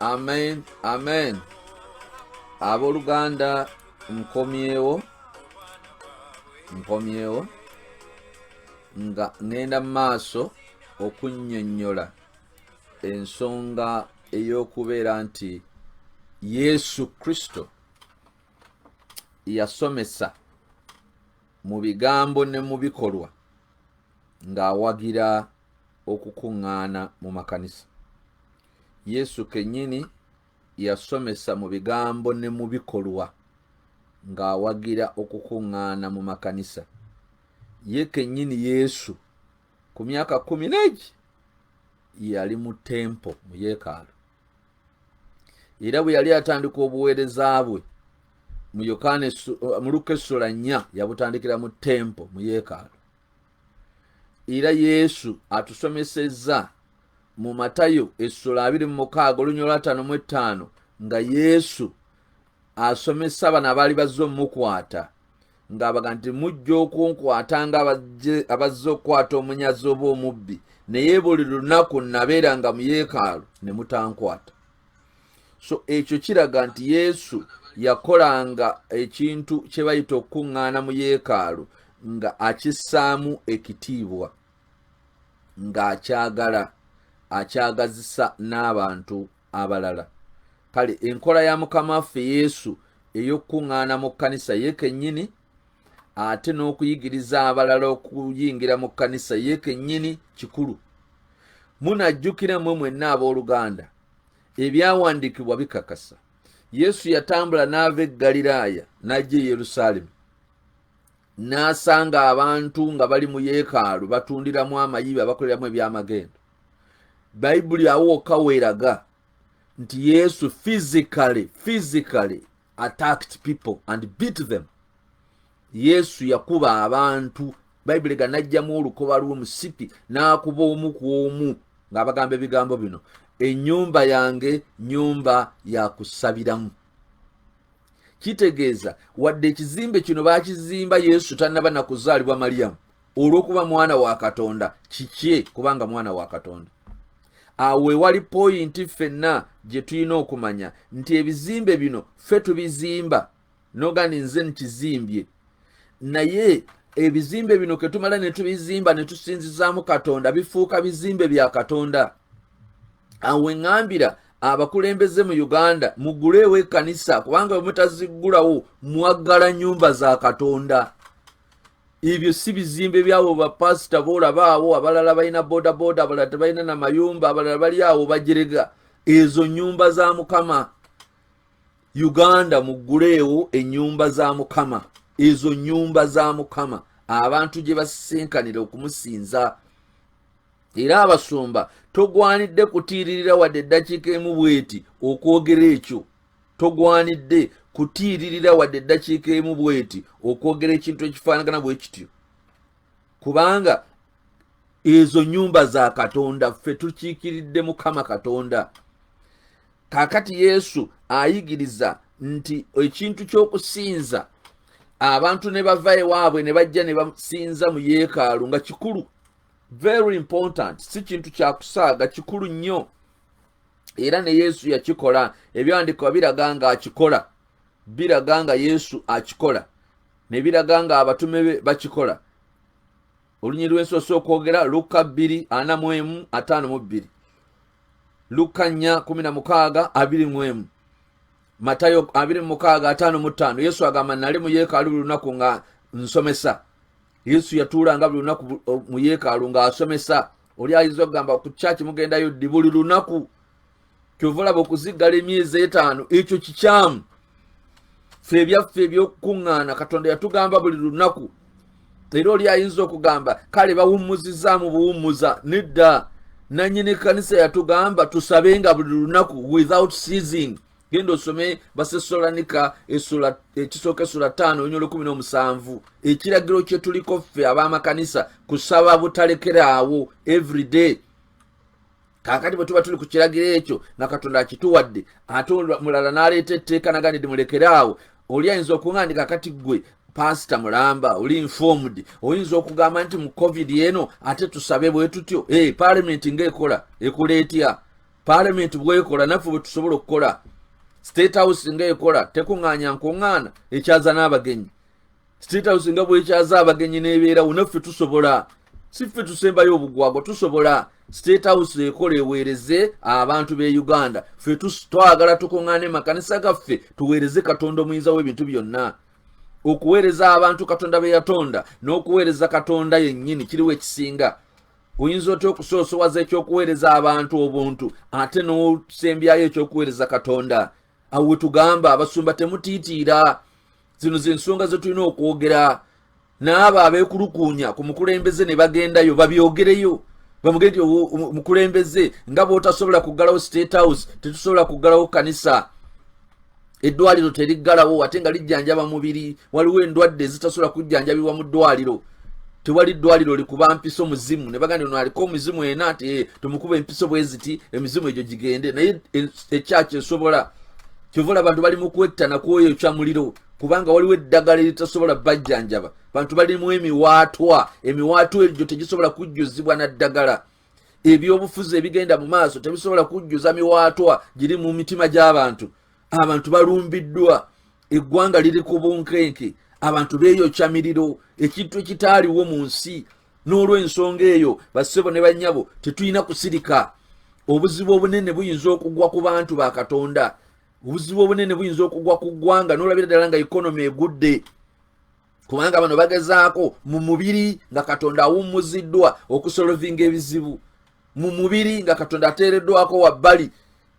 amen amen abooluganda nkomyewo nkomyewo nga ŋŋenda mu maaso okunnyonnyola ensonga ey'okubeera nti yesu kristo yasomesa mu bigambo ne mu bikolwa ng'awagira okukuŋŋaana mu makanisa yesu kenyini yasomesa mu bigambo ne mu bikolwa ng'awagira okukuŋŋaana mu makanisa ye kenyini yesu ku myaka kumi n'egi yali mu tempo mu yeekaalu era bwe yali atandika obuweereza bwe mu yokaana mu luka essula nnya yabutandikira mu tempo mu yeekaalu era yesu atusomesezza mu matayo essula abiri mu mukaaga olunya olwataano mu ettaano nga yesu asomesa bano abaali bazze omukwata ng'abaga nti mujja okunkwata nga abazze okukwata omunyazi oba omubbi naye buli lunaku nabeera nga mu yeekaalu ne mutankwata so ekyo kiraga nti yesu yakolanga ekintu kye bayita okukuŋŋaana mu yeekaalu nga akissaamu ekitiibwa ng'akyagala akyagazisa n'abantu abalala kale enkola ya mukama waffe yesu ey'okukuŋŋaana mu kkanisa ye kennyini ate n'okuyigiriza abalala okuyingira mu kkanisa ye kennyini kikulu munajjukira mwe mwenna ab'oluganda ebyawandiikibwa bikakasa yesu yatambula n'ava e ggaliraaya n'ajja e yerusaalemi n'asanga abantu nga bali mu yeekaalu batundiramu amayibi abakoleramu ebyamagendo bayibuli awo wokka weeraga nti yesu physically physically attacked people and beat them yesu yakuba abantu bayibuli ga najjamu olukoba lw'omusipi n'akuba omu ku omu ng'abagamba ebigambo bino ennyumba yange nyumba ya kusabiramu kitegeeza wadde ekizimbe kino baakizimba yesu tannaba na kuzaalibwa maliyamu olw'okuba mwana wa katonda kikye kubanga mwana wa katonda awo ewali poyinti ffenna gye tulina okumanya nti ebizimbe bino ffe tubizimba nogandi nze nkizimbye naye ebizimbe bino ketumala ne tubizimba ne tusinzizaamu katonda bifuuka bizimbe bya katonda awe ŋambira abakulembeze mu uganda muguleewo ekkanisa kubanga bwe mutaziggulawo mwaggala nnyumba za katonda ebyo si bizimbe byabo bapasita boolabaawo abalala balina bodaboda abalala tebalina na mayumba abalala bali awo bagirega ezo nnyumba za mukama uganda mugguleewo enyumba za mukama ezo nyumba za mukama abantu gye basisinkanira okumusinza era abasumba togwanidde kutiiririra wadde eddakiika emu bweti okwogera ekyo togwanidde kutiiririra wadde eddakiika emu bweti okwogera ekintu ekifaanagana bwe kityo kubanga ezo nyumba za katonda ffe tukiikiridde mukama katonda kaakati yesu ayigiriza nti ekintu ky'okusinza abantu ne bava ewaabwe ne bajja ne basinza mu yeekaalu nga kikulu very important si kintu kyakusaaga kikulu nnyo era ne yesu yakikola ebyandikwa biraga nga akikola biraga nga yesu akikola ne biraga nga abatume be bakikola olunyiri lwensoose okwogera lukka bbiri ana mu emu ataano mu bbiri lukka nnya kumi na mukaaga abiri mu emu matayo abiri mu mukaaga ataano mu ttaano yesu agamba nali mu yeekaalu buli lunaku nga nsomesa yesu yatuulanga buli lunaku mu yeekaalu ng'asomesa oli ayinza okugamba ku kyaki mugendayo ddi buli lunaku kyova olaba okuziggala emyezi etaano ekyo kikyamu fe ebyaffe ebyokukuŋŋaana katonda yatugamba buli lunaku era oli ayinza okugamba kale bawummuzizaamu buwummuza nedda nanyini kanisa yatugamba tusabenga buli lunaku without seasing genda osome basesolanika ekisooka esula ttaano onyolo kumi n'omusanvu ekiragiro kyetuliko ffe ab'amakanisa kusaba butalekeraawo everyday kakati bwe tuba tuli ku kiragiro ekyo nga katonda akituwadde ate mulala n'aleeta etteeka naganidde mulekere awo oli ayinza okuŋandika kati ggwe pasita mulamba oli informed oyinza okugamba nti mu covid eno ate tusabe bwe tutyo e eh, palamenti ngaekola ekola etya paalamenti bwekola naffe bwe tusobola okukola state house nga ekola tekuŋŋaanya nkuŋŋaana ekyaza n'abagenyi state house nga bwekyaza abagenyi n'ebeerawo naffe tusobola si ffe tusembayo obugwagwa tusobola state house ekola eweereze abantu b'e uganda ffe twagala tukuŋŋaana emakanisa gaffe tuweereze katonda omuyinza w'ebintu byonna okuweereza abantu katonda be yatonda n'okuweereza katonda yennyini kiriwo ekisinga oyinza otya okusoosowaza ekyokuweereza abantu obuntu ate n'osembyayo ekyokuweereza katonda awo wetugamba abasumba temutiitiira zino zensonga zetulina okwogera n'abo abeekulukuunya ku mukulembeze ne bagendayo babyogereyo bamugee nti omukulembeze nga bwotasobola kuggalawo state house tetusobola kuggalawo kanisa eddwaliro teriggalawo ate nga lijjanjaba mubiri waliwo endwadde ezitasobola kujjanjabibwa mu ddwaliro tewali ddwaliro likuba mpiso muzimu ne baganda ono aliko omuzimu ena ati eh, tumukuba empiso bwe ziti emizimu egyo gigende naye eh, ekyaki esobola kyova ola abantu bali mu kwettana kwoyo ekya muliro kubanga waliwo eddagala eritasobola bajjanjaba bantu balimu emiwaatwa emiwaatwa egyo tegisobola kujjuzibwa na ddagala ebyobufuzi ebigenda mu maaso tebisobola kujjuza miwaatwa giri mu mitima gy'abantu abantu balumbiddwa eggwanga liri ku bunkenke abantu beeyokya miriro ekintu ekitaaliwo mu nsi n'olw'ensonga eyo bassebo ne bannyabo tetulina kusirika obuzibu obunene buyinza okugwa ku bantu ba katonda obuzibu obunene buyinza okugwa ku ggwanga n'olabira ddala nga ekonomi egudde kubanga bano bagezaako mu mubiri nga katonda awummuziddwa okusolovinga ebizibu mu mubiri nga katonda ateereddwako wabbali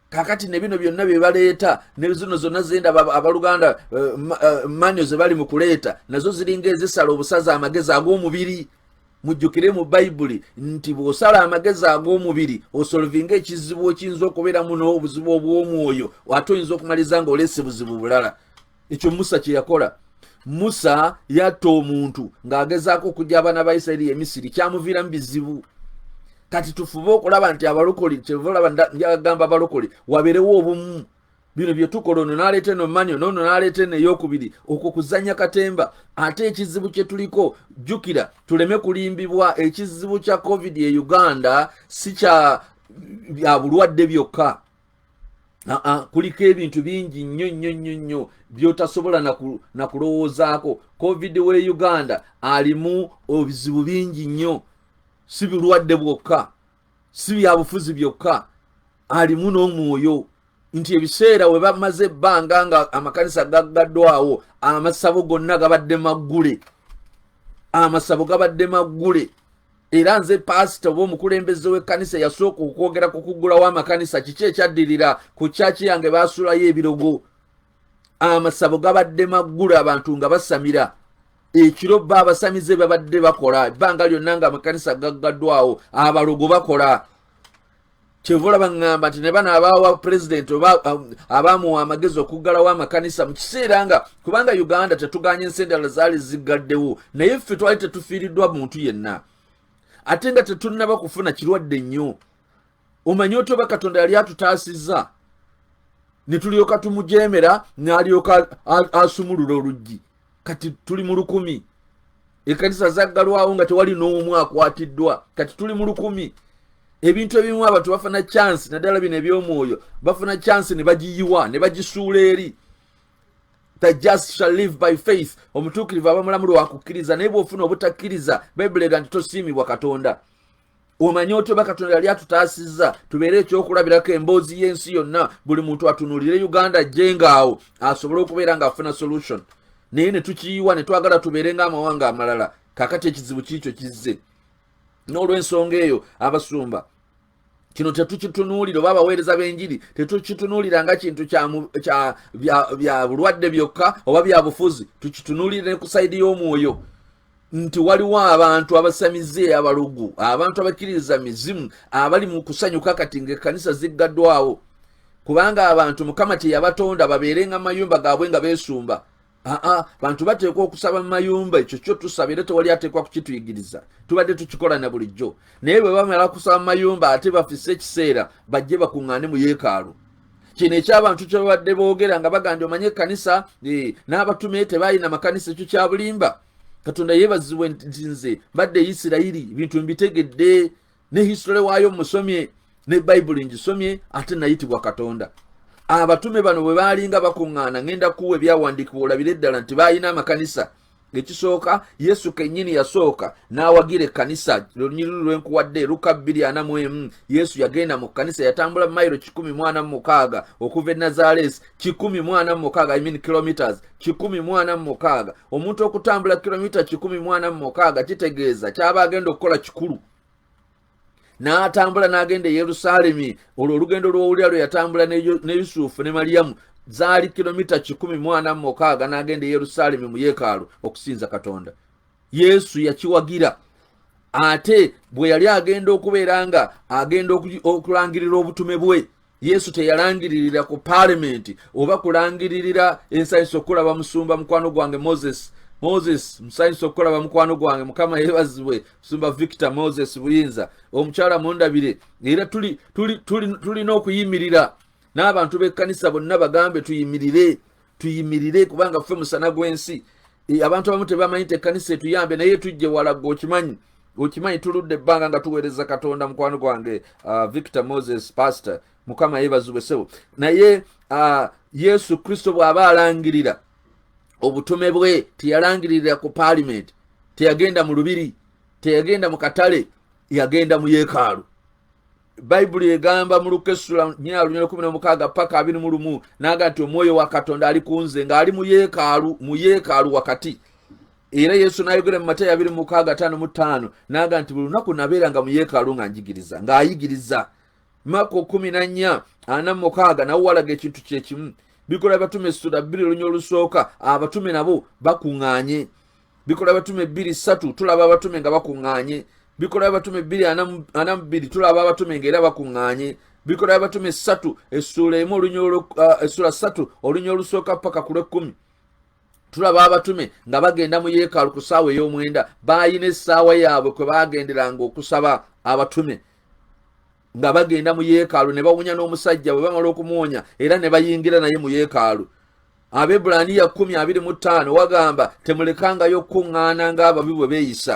kakati ne bino byonna bye baleeta ne zino zonna zenda abaluganda eh, eh, manyo ze bali mu kuleeta nazo ziringa ezisala obusaza amagezi ag'omubiri mujjukire mu bayibuli nti bw'osala amagezi ag'omubiri osolovinga ekizibu ekiyinza okubeeramu n'obuzibu obw'omwoyo ate oyinza okumaliza ng'oleese buzibu bulala ekyo musa kyeyakola musa yatta omuntu ng'agezaako okujja abaana ba isirairi emisiri kyamuviiramu bizibu kati tufube okulaba nti abalokole kyeva olaba njagagamba abalokole wabeerewo obumu bino byetukola ono naleeta eno manyo noono naleeta eno eyokubiri okwo kuzanya katemba ate ekizibu kyetuliko jjukira tuleme kulimbibwa ekizibu kya covid e uganda si kya bya bulwadde byokka aa kuliko ebintu bingi nnyo nnyo nnyo nnyo byotasobola nakulowoozaako covid we uganda alimu obizibu bingi nnyo si bulwadde bwokka si byabufuzi byokka alimu n'omwoyo nti ebiseera we bamaze ebbanga nga amakanisa gaggaddwawo amasabo gonna gabadde maggule amasabo gabadde maggule era nze paasita oba omukulembeze w'ekkanisa eyasooka okwogera ku kuggulawo amakanisa kiki ekyaddirira ku kyaki yange baasulayo ebirogo amasabo gabadde maggulu abantu nga basamira ekiro bba abasamize babadde bakola ebbanga lyonna nga amakanisa gaggaddwawo abalogo bakola kyeva olaba ŋŋamba nti ne bano abaawa pulezidenti oba um, abaamuwa amagezi okuggalawo amakanisa mu kiseera nga kubanga uganda tetuganya ensi endala zaali ziggaddewo naye ffe twali tetufiiriddwa muntu yenna ate nga tetunnaba kufuna kirwadde nnyo omanyi otya oba katonda yali atutaasizza ne tulyoka tumujeemera n'alyoka asumulula oluggi kati tuli mu lukumi ekanisa zaggalwawo nga tewali n'omu akwatiddwa kati tuli mu lukumi ebintu ebimu abantu bafuna chansi naddala bino eby'omwoyo bafuna chansi ne bagiyiwa ne bagisuula eri the just shall live by faith omutuukirivu abamulamu lwakukkiriza naye bw'ofuna obutakkiriza bayibuli ega nti tosiimibwa katonda omanye otyo oba katonda yali atutaasizza tubeere ekyokulabirako emboozi y'ensi yonna buli muntu atunuulire uganda jengaawo asobole okubeera ng'afuna solution naye ne tukiyiwa ne twagala tubeere ng'amawanga amalala kakati ekizibu kiikyo kizze n'olw'ensonga eyo abasumba kino tetukitunuulira oba abaweereza b'enjiri tetukitunuulira nga kintu bya bulwadde byokka oba bya bufuzi tukitunuulire ne ku sayidi y'omwoyo nti waliwo abantu abasamize abalugu abantu abakkiririza mizimu abali mu kusanyuka kati ngaekkanisa ziggaddwawo kubanga abantu mukama teyabatonda babeerenga mayumba gaabwe nga beesumba aa bantu bateekwa okusaba mu mayumba ekyo kyo tusaba era tewali ateekwa kukituyigiriza tubadde tukikola na bulijjo naye bwe bamala kusaba mu mayumba ate bafise ekiseera bajje bakuŋŋaane mu yeekaalu kino ekyabantu kyebabadde boogera nga bagandi omanye ekkanisa eh, n'abatume tebalina makanisa ekyo kyabulimba katonda yeebazibwe nti nze mbadde isirayiri ebintu mbitegedde ne hisitole waayo musomye ne bayibuli ngisomye ate nayitibwa katonda abatume bano bwe baalinga bakuŋŋaana ŋenda kuwa ebyawandiikibwa olabire ddala nti baalina amakanisa ekisooka yesu kennyini yasooka n'awagira ekkanisa lunyiriri lwenkuwadde luka bbiri ana mu emu yesu yagenda mu kkanisa yatambula mayiro kikumi mwana mu mukaaga okuva e nazaleesi kikumi mwana mu mukaaga imean kilometers kikumi mwana mu mukaaga omuntu okutambula kilomita kikumi mwana mu mukaaga kitegeeza kyaba agenda okukola kikulu n'atambula n'agenda e yerusaalemi olwo olugendo lw'owulira lwe yatambula ne yusufu ne maliyamu zaali kilomita kikumi mwana mukaaga n'agenda e yerusaalemi mu yeekaalu okusinza katonda yesu yakiwagira ate bwe yali agenda okubeera nga agenda okulangirira obutume bwe yesu teyalangiririra ku paalimenti oba kulangiririra ensanyusa okukulaba musumba mukwano gwange moses moses musanyusa okukulaba mukwano gwange mukama yebazibwe musumba victor moses buyinza omukyala mundabire era tulina okuyimirira n'abantu b'ekkanisa bonna bagambe tuyimirire tuyimirire kubanga ffe musana gw'ensi e, abantu abamu tebamanyi nti ekkanisa etuyambe naye tujje walagga okimanyi okimanyi tuludde ebbanga nga tuweereza katonda mukwano gwange uh, victor moses pastor mukama yebazibwe sebo naye uh, yesu kristo bw'aba alangirira obutume bwe teyalangiririra ku paalimenti teyagenda mu lubiri teyagenda mu katale yagenda mu yeekaalu bayibuli egamba mu luka essula nyina lunya lukumi nomukaaga paka abiri mu lumu naga nti omwoyo wa katonda ali ku nze ng'ali mu yeekaalu mu yeekaalu wakati era yesu n'ayogera mu mateyo abiri mukaaga ataano mu ttaano naga nti buli lunaku nabeeranga mu yeekaalu nga njigiriza ng'ayigiriza mako kumi na nnya ana mu mukaaga nawo walaga ekintu kyekimu bikola abatume essula bbiri olunya olusooka abatume nabo bakuŋŋanye bikola abatume bbiri ssatu tulaba abatume nga bakuŋŋaanye bikola abatume bbiri ana mu bbiri tulaba abatume nga era bakuŋŋaanye bikola abatume ssatu essuula emu essuula ssatu olunya olusooka paka ku lwekkumi tulaba abatume nga bagenda mu yeekaalu ku ssaawa ey'omwenda baalina essaawa yaabwe kwe baagenderanga okusaba abatume nga bagenda mu yeekaalu ne bawunya n'omusajja bwe bamala okumuwonya era ne bayingira naye mu yeekaalu abebbulaniya kumi abiri mu ttaano wagamba temulekangayo okukuŋŋaana ng'ababi bwe beeyisa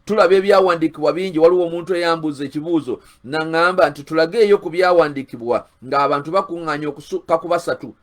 tulaba ebyawandiikibwa bingi waliwo omuntu eyambuuza ekibuuzo naŋŋamba nti tulageeyo ku byawandiikibwa ng'abantu bakuŋŋaanya okusuka ku basatu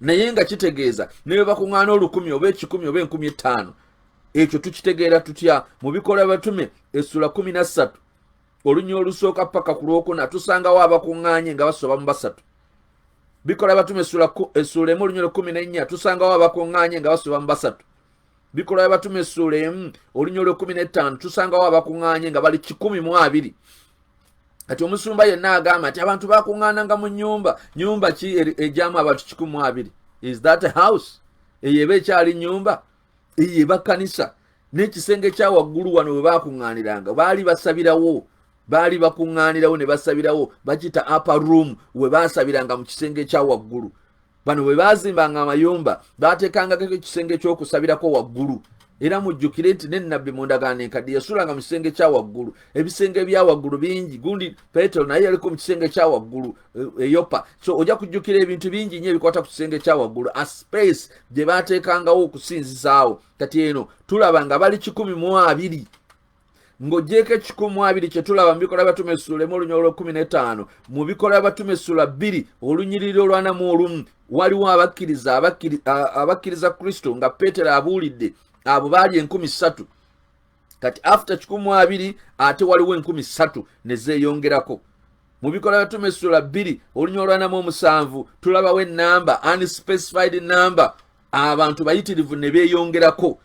naye nga kitegeeza ne bwe bakuŋŋaana olukumi oba ekikumi oba enkumi ettaano ekyo tukitegeera tutya mu bikola batume essula kumi na ssatu olunya olusooka paka ku lwokuna tusangawo abakuŋŋaanye nga basoba mu basatu bikola batume essuula emu olunya olwekumi n'ennya tusangawo abakuŋŋaanye nga basoba mu basatu bikola batume essuula emu olunya olwekumi n'ettaano tusangawo abakuŋŋaanye nga bali kikumi mu abiri kati omusumba yenna agamba nti abantu bakuŋŋaananga mu nyumba nyumba ki egyamu abantu kikumu abiri is that a house eyo eba ekyali nyumba eyo eba kkanisa n'ekisenge kya waggulu wano bwe bakuŋŋaaniranga baali basabirawo baali bakuŋŋaanirawo ne basabirawo bakiyita upper room we baasabiranga mu kisenge ekya waggulu bano bwe baazimbanga amayumba baateekangako ekisenge ky'okusabirako waggulu era mujjukire nti ne nabbi mu ndagaano enkadde yasulanga mu kisenge kya waggulu ebisenge ebya waggulu bingi gundi petero naye yaliko mu kisenge kya waggulu eyopa eh, so ojja kujjukira ebintu bingi nyo ebikwata ku kisenge kya waggulu a space gye baateekangawo okusinzisaawo kati eno tulaba nga bali kikumi mu abiri ng'ogyeko ekikumu abiri kye tulaba mu bikola by'abatume essula emu olunyiriro olw'ekkumi n'ettaano mu bikola by'abatume essula bbiri olunyiriri olwanamu olumu waliwo abakkiriza abakkiriza kristo nga peetero abuulidde abo baali enkumi ssatu kati after kikumu abiri ate waliwo enkumi ssatu ne zeeyongerako mu bikola by'abatume essula bbiri olunyiriro olwanamu omusanvu tulabawo ennamba unspecified number abantu bayitirivu ne beeyongerako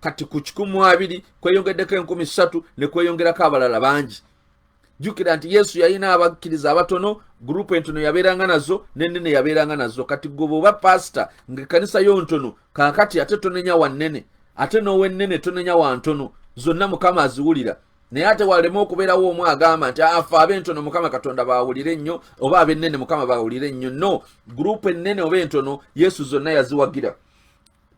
kati ku kikumu abiri kweyongeddeko enkumi ssatu ne kweyongerako abalala bangi jjukira nti yesu yalina abakkiriza abatono gurupu entono yabeeranga nazo nenene yabeeranga nazo kati goba oba pasita nga ekkanisa yo ntono kaakati ate tonenya wa nnene ate n'owennene tonenya wa ntono zonna mukama aziwulira naye ate walema okubeerawo omu agamba nti afe ah, abentono mukama katonda bawulire ennyo oba abennene mukama bawulire nnyo no gurupu ennene oba entono yesu zonna yaziwagira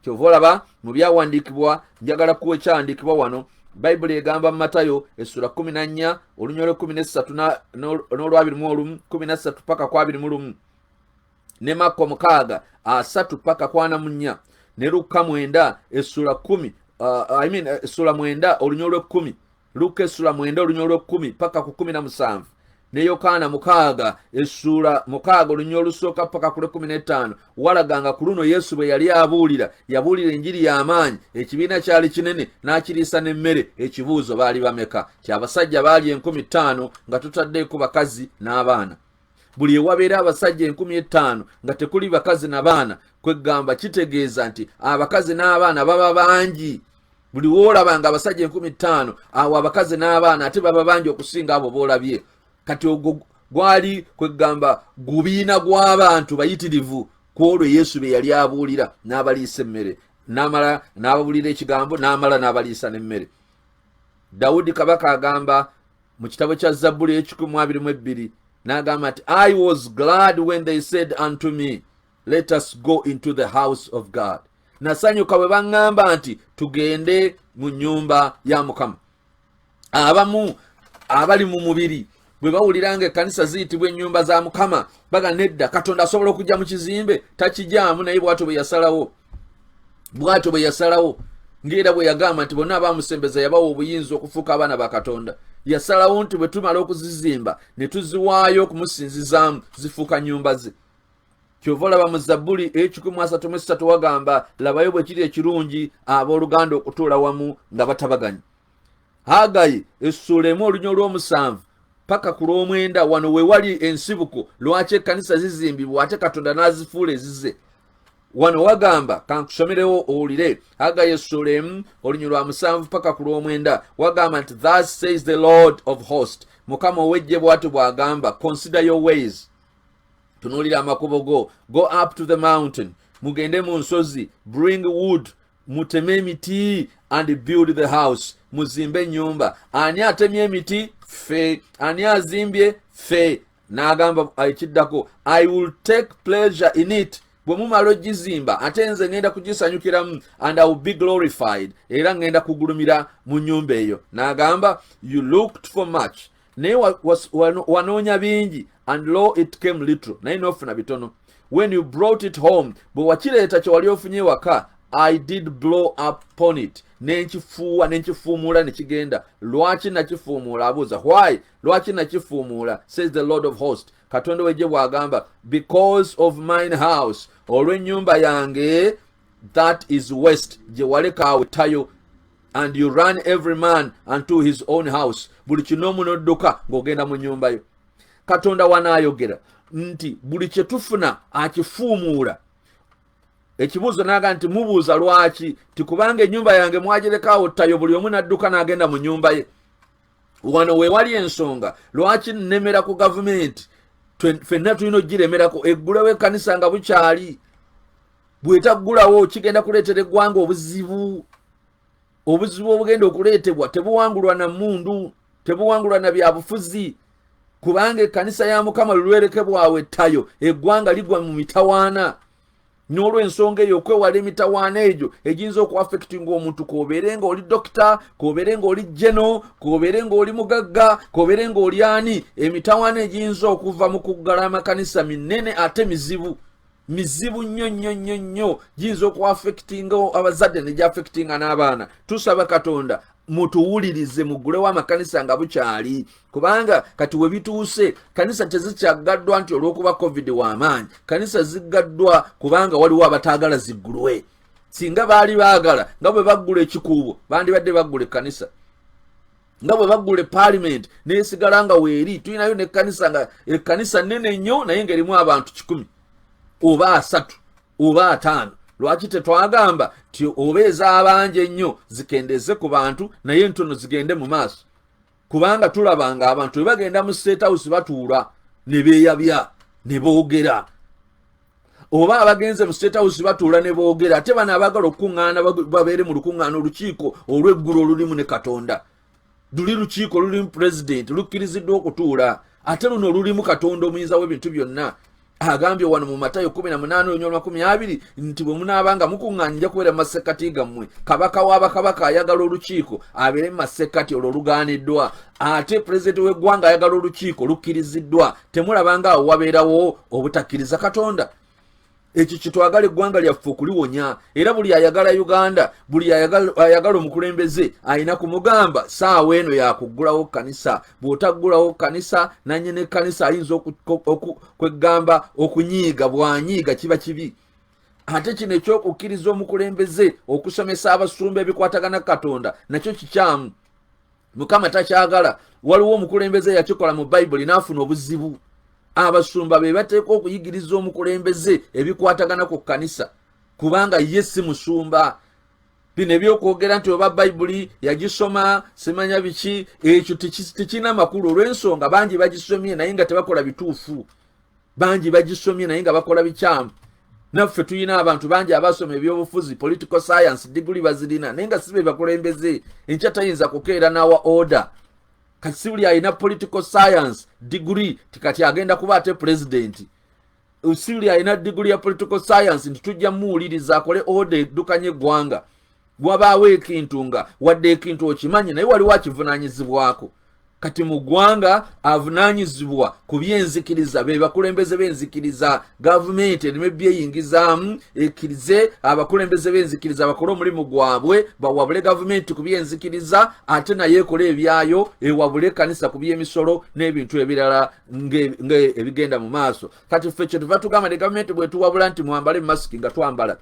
kyova olaba mu byawandiikibwa njagala kuwa ekyawandiikibwa wano bayibuli egamba mu matayo essula kumi na nnya olunyolo kumi nessatu n'olwabiri mu olumu kumi nassatu paka ku abiri mu lumu ne makko mukaaga asatu paka kwana mu nnya ne lukka mwenda essula kumi uh, I mean, essula mwenda olunyolo lw'ekkumi luka essula mwenda olunya olw'ekkumi paka ku kumi na musanvu ne yokaana mukaaga essuula mukaaga olunya olusooka paka ku lw'ekkumi n'ettaano walaga nga ku luno yesu bwe yali abuulira yabuulira enjiri y'amaanyi ekibiina kyali kinene n'akiriisa n'emmere ekibuuzo baali bameka kyabasajja baali enkumi ttaano nga tutaddeeko bakazi n'abaana buli ewabeera abasajja enkumi ettaano nga tekuli bakazi na baana kweggamba kitegeeza nti abakazi n'abaana baba bangi buli woolaba nga abasajja enkumi ttaano awo abakazi n'abaana ate baba bangi okusinga abo boolabye kati ogwo gwali kwegamba gubiina gw'abantu bayitirivu ku olwo yesu bye yali abuulira n'abaliisa emmere n'amala n'ababuulira ekigambo n'amala n'abaliisa n'emmere dawudi kabaka agamba mu kitabo kya zabbuli ekikumu abiri mu ebbiri n'agamba nti i was glad when they said unto me let us go into the house of god nasanyuka bwe baŋŋamba nti tugende mu nnyumba ya mukama abamu abali mu mubiri bwe bawulira nga ekkanisa ziyitibwa ennyumba za mukama baga nedda katonda asobola okujja mu kizimbe takijaamu naye bwatyo bwe yasalawo bwatyo bwe yasalawo ngaera bwe yagamba nti bonna abamusembeza yabawa obuyinza okufuuka abaana ba katonda yasalawo nti bwe tumala okuzizimba ne tuziwaayo okumusinzizaamu zifuuka nnyumba ze kyova olaba mu zabbuli ekikumi asatu mu esatu wagamba labayo bwe kiri ekirungi abooluganda okutuula wamu nga batabaganya hagayi essuula emu olunya olw'omusanvu paka ku lw'omwenda wano we wali ensibuko lwaki ekkanisa zizimbibwa ate katonda n'azifuula ezize wano wagamba kankusomerewo owulire hagayi essuula emu olunya lwa musanvu paka ku lw'omwenda wagamba nti thus says the lord of host mukama ow'ejje bw'ati bw'agamba consider your ways tunuulira amakubo go go up to the mountain mugende mu nsozi bring wood muteme emiti and build the house muzimbe ennyumba ani atemye emiti fe ani azimbye fe n'agamba ekiddako i will take pleasure in it bwe mumala ogizimba ate nze ŋenda kugisanyukiramu and iwill be glorified era ŋenda kugulumira mu nyumba eyo n'agamba you looked for much naye wanoonya bingi and law it came little naye nofuna bitono when you brought it home bwe wakireeta kye wali ofunye ewaka i did blow up pon it nenkifuuwa nenkifuumuula ne kigenda lwaki nakifuumuula abuuza why lwaki nakifuumuula says the lord of host katonda wejje bw'agamba because of mine house olw'ennyumba yange that is west gye waleka awe tayo and you run every man unto his own house buli kinoomu n'odduka ng'ogenda mu nnyumba yo katonda wanaayogera nti buli kye tufuna akifuumuula ekibuuzo naaga nti mubuuza lwaki ti kubanga ennyumba yange mwagirekaawo ttayo buli omu n'adduka n'agenda mu nnyumba ye wano weewali ensonga lwaki nnemera ku gavumenti fenna tulina okugiremerako eggulewo ekkanisa nga bukyali bwetaggulawo kigenda kuleetera eggwanga obuzibu obuzibu obugenda okuleetebwa tebuwangulwa na mundu tebuwangulwa na byabufuzi kubanga ekkanisa ya mukama lulwereke bwawe ttayo eggwanga ligwa mu mitawaana n'olwensonga eyo okwewala emitawaana egyo egiyinza okuafectinga omuntu kobeere nga oli dokita kobeere nga oli jeno kobeere nga oli mugagga kobeere nga oli ani emitawaana egiyinza okuva mu kuggala amakanisa minene ate mizibu mizibu nnyo nnyo nnyo nnyo giyinza okuafectinga abazadde negyafectinga n'abaana tusaba katonda mutuwulirize mugulewo amakanisa nga bukyali kubanga kati webituuse kanisa tezikyaggaddwa nti olwokuba covid wamaanyi kanisa ziggaddwa kubanga waliwo abataagala ziggulwe singa baali baagala nga bwe baggula ekikuubo bandibadde baggula ekkanisa nga bwe baggula epaalimenti neesigala nga weeri tulinayo nekkanisa nga ekkanisa nnene nnyo naye nga erimu abantu kikumi oba asatu oba ataano lwaki tetwagamba ti oba ez'abangi ennyo zikendeeze ku bantu naye ntono zigende mu maaso kubanga tulaba nga abantu bwe bagenda mu state house batuula ne beeyabya ne boogera oba abagenze mu state house batuula ne boogera ate bano abaagala okukuŋŋaana babeere mu lukuŋŋaana olukiiko olw'eggulu olulimu ne katonda luli lukiiko lulimu pulezidenti lukkiriziddwa okutuula ate luno lulimu katonda omuyinza w'ebintu byonna agambye wano mu matayo 18:20 nti bwe munaaba nga mukuŋŋaanija kubeera mu masekkati gammwe kabaka wa bakabaka ayagala olukiiko abeere mu masekkati olwo lugaaniddwa ate pulezidenti w'eggwanga ayagala olukiiko lukkiriziddwa temulabanga awo wabeerawo obutakkiriza katonda ekyo kitwagala eggwanga lyaffe okuliwonya era buli ayagala uganda buli ayagala omukulembeze alina kumugamba saawa eno yakuggulawo kanisa bw'otaggulawo kanisa nanye ne kanisa ayinza kweggamba okunyiiga bwanyiiga kiba kibi ate kino ekyokukkiriza omukulembeze okusomesa abasumba ebikwatagana katonda nakyo kikyamu mukama takyagala waliwo omukulembeze eyakikola mu bayibuli n'afuna obuzibu abasumba be bateeka okuyigiriza omukulembeze ebikwatagana ku kkanisa kubanga ye si musumba bino ebyokwogera nti oba bayibuli yagisoma simanya biki ekyo tekirina makulu olw'ensonga bangi bagisomye naye nga tebakola bituufu bangi bagisomye naye nga bakola bikyamu naffe tulina abantu bangi abasoma ebyobufuzi political science diguli bazirina naye nga sibe bakulembeze enkya tayinza kukeera nawa order kati sibuli alina political science diguli tikati agenda kuba ate pulezidenti sibuli alina diguli ya political science nti tujja muwuliriza akole order eddukanye eggwanga wabaawo ekintu nga wadde ekintu okimanyi naye waliwo akivunanyizibwako kati mu ggwanga avunanyizibwa ku byenzikiriza be bakulembeze b'enzikiriza gavumenti erimu ebyeyingizaamu ekkirize abakulembeze b'enzikiriza bakole omulimu gwabwe bawabule gavumenti ku byenzikiriza ate naye ekole ebyayo ewabule ekkanisa ku by'emisolo n'ebintu ebirala ng'ebigenda mu maaso kati ffe kyetuva tugamba ne gavumenti bwetuwabula nti mwambale masiki nga twambala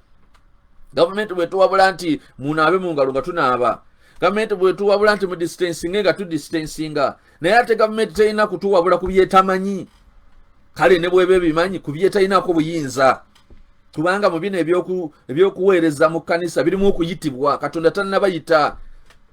gavumenti bwetuwabula nti munaabe mu ngalo nga tunaaba gavumenti bwetuwabula nti mudistansinge nga tudistansinga naye ate gavumenti terina kutuwabula ku byetamanyi kale ne bweba ebimanyi ku byetalinako buyinza kubanga mu bino ebyokuweereza mu kkanisa birimu okuyitibwa katonda tanabayita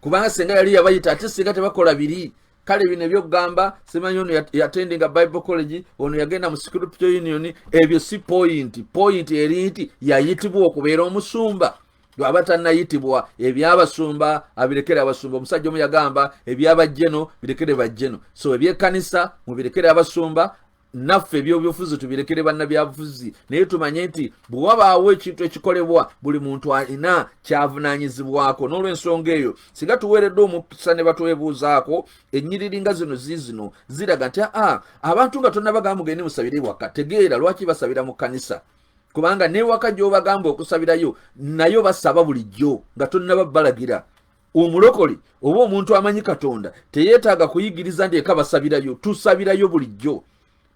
kubanga singa yali yabayita ate singa tebakola biri kale bino ebyokugamba simanyi ono yatendinga bible college ono yagenda mu scripture union ebyo si pointi pointi eri nti yayitibwa okubeera omusumba lwaba tanayitibwa ebyabasumba abirekere abasumba omusajja omu yagamba ebyabajjeno birekere bajjeno so ebyekanisa mubirekere abasumba naffe ebyobyobufuzi tubirekere bannabyabufuzi naye tumanye nti bwe wabaawo ekintu ekikolebwa buli muntu alina kyavunanyizibwako n'olwensonga eyo singa tuweeredde omukisa ne batwebuuzaako ennyiriri nga zino ziizino ziraga nti aa abantu nga tonabagamba mugende musabire ewaka tegeera lwaki basabira mu kkanisa kubanga newaka gyobagamba okusabirayo nayo basaba bulijjo nga tonaba balagira omulokole oba omuntu amanyi katonda teyeetaaga kuyigiriza nti eka basabirayo tusabirayo bulijjo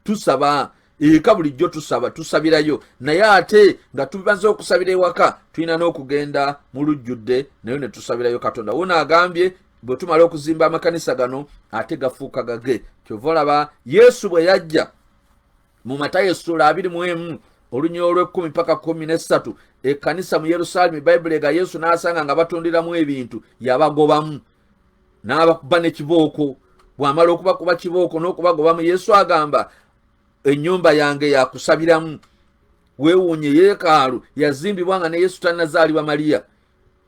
tusaba eka bulijjo tusaba tusabirayo naye ate nga tumaze okusabira ewaka tulina n'okugenda mu lujjudde nayo ne tusabirayo katonda wona agambye bwe tumala okuzimba amakanisa gano ate gafuuka gage kyova olaba yesu bwe yajja mu matayo essuula abiri mu emu olunyira olw'ekkumi paka kumi n'essatu ekkanisa mu yerusaalemi bayibuli ega yesu n'asanga nga batundiramu ebintu yabagobamu n'abakuba ne kibooko bw'amala okubakuba kibooko n'okubagobamu yesu agamba ennyumba yange yakusabiramu weewuunye yeekaalu yazimbibwa nga ne yesu tannazaalibwa maliya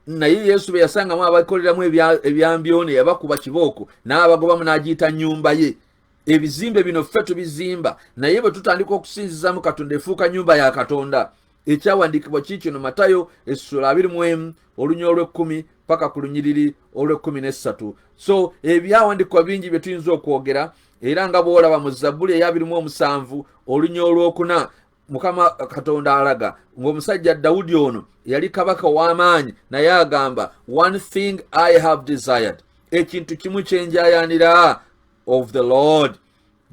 naye yesu bwe yasangamu abakoleramu ebyambyone yabakuba kibooko n'abagobamu n'agiyita nnyumba ye ebizimbe bino ffe tubizimba naye bwe tutandika okusinzizamu katonda efuuka nyumba ya katonda ekyawandiikibwa kiikino matayo essula abiri mu emu olunya olw'ekkumi paka ku lunyiriri olw'ekkumi n'essatu so ebyawandiikibwa bingi bye tuyinza okwogera era nga bw'olaba mu zabbuli eyabirimu omusanvu olunya olw'okuna mukama katonda alaga ng'omusajja dawudi ono yali kabaka w'amaanyi naye agamba one thing i have desired ekintu kimu kye njayanira of the lord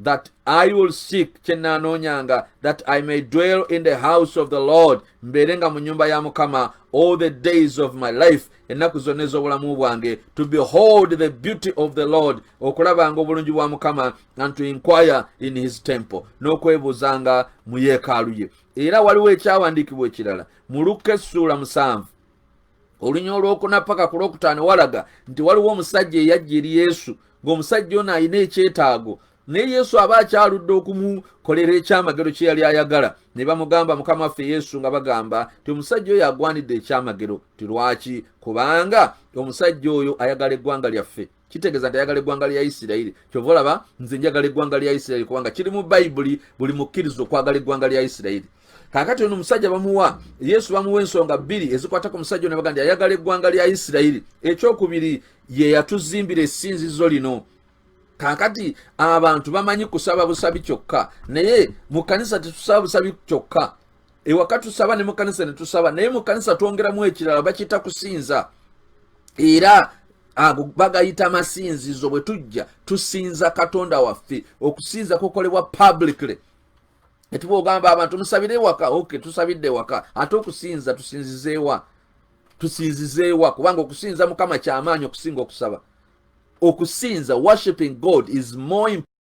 that i will seek kye nnaanoonyanga that i may dwell in the house of the lord mbeere nga mu nnyumba ya mukama all the days of my life ennaku zonna ez'obulamu bwange to behold the beauty of the lord okulabanga obulungi bwa mukama and to inquire in his temple n'okwebuuzanga mu yeekaalu ye era waliwo ekyawandiikibwa ekirala mu lukka essuula musanvu olunya olwokuna paka ku lwokutaano walaga nti waliwo omusajja eyajja eri yesu ng'omusajja ono alina ekyetaago naye yesu aba akyaludde okumukolera ekyamagero kye yali ayagala ne bamugamba mukama waffe yesu nga bagamba ti omusajja oyo agwanidde ekyamagero ti lwaki kubanga omusajja oyo ayagala eggwanga lyaffe kitegeeza nti ayagala eggwanga lya isirayiri kyova olaba nze njagala eggwanga lya isirayiri kubanga kiri mu bayibuli buli mukkiriza okwagala eggwanga lya isirayiri kakati ono omusajja bamuwa yesu bamuwa ensonga bbiri ezikwatako omusajja ono baga nti ayagala eggwanga lya isirayiri ekyokubiri ye yatuzimbira esinzizo lino kakati abantu bamanyi kusaba busabi kyokka naye mu kanisa tetusaba busabi kyokka ewaka tusaba ne mu kanisa ne tusaba naye mu kanisa twongeramu ekirala bakita kusinza era ago bagayita masinzizo bwe tujja tusinza katonda waffe okusinza kukolebwa publicly etuba ogamba abantu musabire ewaka ok tusabidde ewaka ate okusinza tusinzizeewa tusinzizeewa kubanga okusinza mukama kyamaanyi okusinga okusaba okusinza worshiping god is more